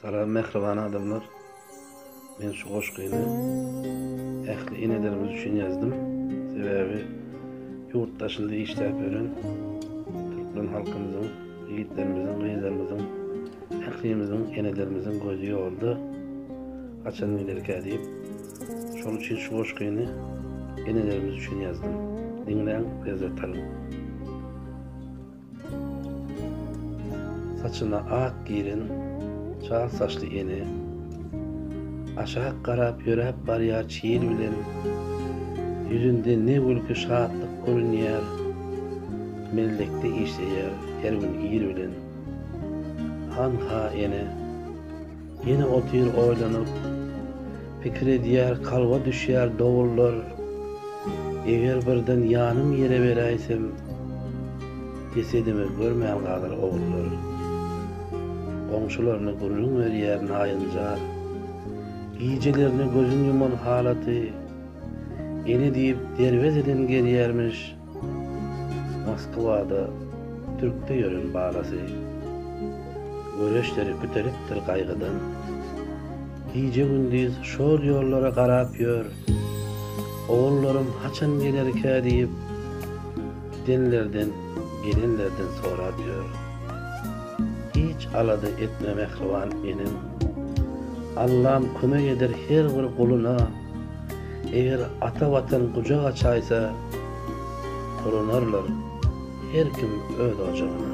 Salam mähriban adamlar. Men şu goşgyny ähli enelerimiz üçin ýazdym. Sebäbi ýurt daşynda işläp ýören türkmen halkymyzyň, ýigitlerimiziň, gyzlarymyzyň, ählimiziň, enelerimiziň gözi ýolda haçan giderkä diýip, şonuň üçin şu goşgyny enelerimiz üçin ýazdym. Diňläň, lezzet alyň. Saçyna ak giren çal saçly ene Aşak garap ýöräp barýar çyýr bilen Ýüzünde ne gülki şatlyk görünýär Mellekde işleýär her gün ir bilen Hanha ene Ýene otyr oýlanyp, pikir edýär, kalba düşýär dowullar, Eger birden ýanym ýere beräýsem, jesedimi görmän galar ogullar. Goňşularyna gürrüň berýär naýynjar, gijelerine gözün ýuman halaty, Ene diýip, derwezeden gelýärmiş. Moskwada türkde ýören balasy, Göreçleri kütelipdir gaýgydan. Gije-gündiz şol ýollara garap ýör, Ogullarym haçan gelerkä diýip, Gidenlerden, gelenlerden sorap ýör. Hiç alada etme mähriban enem, Allam kömek eder her bir guluna. Eger ata Watan gujak açaýsa, Dolanarlar her kim öz ojagyna.